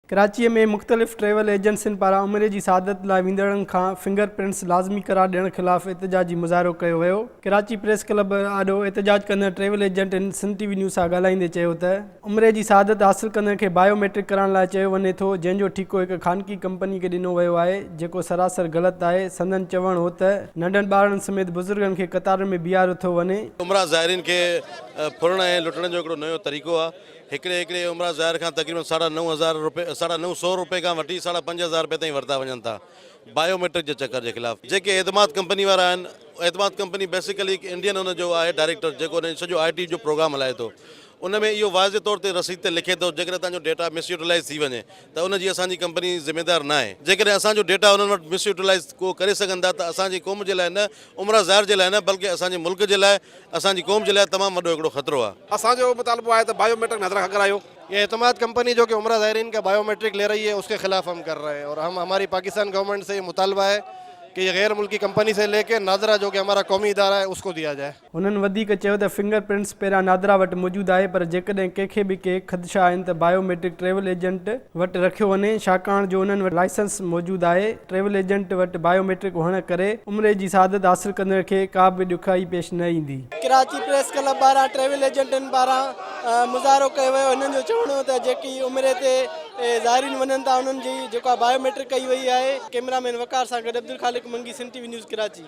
ڪراچيء ۾ مختلف ٽريول ايجنسين پاران عمري جي سعادت لاء ويندڙن کان فنگر پرنٽس لازمي قرار ڏيڻ خلاف احتجاجي مظاهرو ڪيو ويو. ڪراچي پريس ڪلب آڏو احتجاج ڪندڙ ٽريول ايجنٽن سنڌ ٽي وي نيوز سان ڳالهائيندي چيو ته، عمري جي سعادت حاصل ڪندڙن کي بايو ميٽرڪ ڪرائڻ لاء چيو وڃي ٿو جنهن جو ٺيڪو هڪ خانگي ڪمپني کي ڏنو ويو آهي جيڪو سراسر غلط آهي سندن چوڻ هو ته ننڍن ٻارڙن سميت بزرگن کي قطارن ۾ بيهاريو ٿو وڃي. عمرا زائرين کي ڦرڻ ۽ لٽڻ جو هڪڙو نيو طريقو آهي هڪڙي هڪڙي عمره زائر کان تقريبن ساڍا نو هزار روپي ساڍا نو سؤ روپي کان وٺي ساڍا پنج هزار روپي تائين ورتا وڃن ٿا بايو ميٽرڪ جي چڪر جي خلاف جيڪي اعتماد ڪمپني وارا آهن اعتماد ڪمپني بيسيڪلي هڪ انڊين ان جو آهي ڊائريڪٽر جيڪو ان سڄو آئي ٽي جو پروگرام هلائي ٿو ان ۾ اهو واضح طور تي رسيد تي لکي ٿو جيڪڏهن توهان جو ڊيٽا مس يوٽيلائز ٿي وڃي ته ان جي اسان جي ڪمپني ذميدار ناهي جيڪڏهن اسان جو ڊيٽا انهن وٽ مس يوٽيلائز ڪو ڪري سگهن ٿا ته اسان جي قوم جي لاء نه عمره زائر جي لاء نه بلڪه اسان جي ملڪ جي لاء اسان جي قوم جي لاء تمام وڏو هڪڙو خطرو آهي. اسان جو اهو مطالبو آهي ته بايو ميٽرڪ نظر کان ڪرايو. يا اعتماد ڪمپني جو ڪي عمره زائرين ڪا بايو ميٽرڪ لي رهي هي اس ڪي خلاف هم ڪر رهي هي اور هم هماري پاڪستان گورنمنٽ سي يه مطالبا هي ڪي يه غير ملڪي ڪمپني سي لي ڪي نادرا جو ڪي همارا قومي ادارا هي اس ڪو ديا جائي. هنن وڌيڪ چيو ته فنگر پرنٽس پهريان نادرا وٽ موجود آهي پر جيڪڏهن ڪنهن کي به ڪي خدشا آهن ته بايو ميٽرڪ ٽريول ايجنٽ وٽ رکيو وڃي ڇاڪاڻ جو انهن وٽ لائسنس موجود آهي. ٽريول ايجنٽ وٽ بايو ميٽرڪ هئڻ ڪري عمري جي سعادت حاصل ڪندڙ کي ڪا به ڏکيائي پيش نه ايندي. ڪراچي پريس ڪلب پاران ٽريول ايجنٽن پاران مظاهرو ڪيو ويو هنن جو چوڻ هو ته جيڪي عمري تي زائرين وڃن ٿا انهن جي جيڪا بايو ميٽرڪ ڪئي وئي آهي. ڪئميرا مين وقار سان گڏ Abdul Khaliq Mangi Sindh T V news Karachi.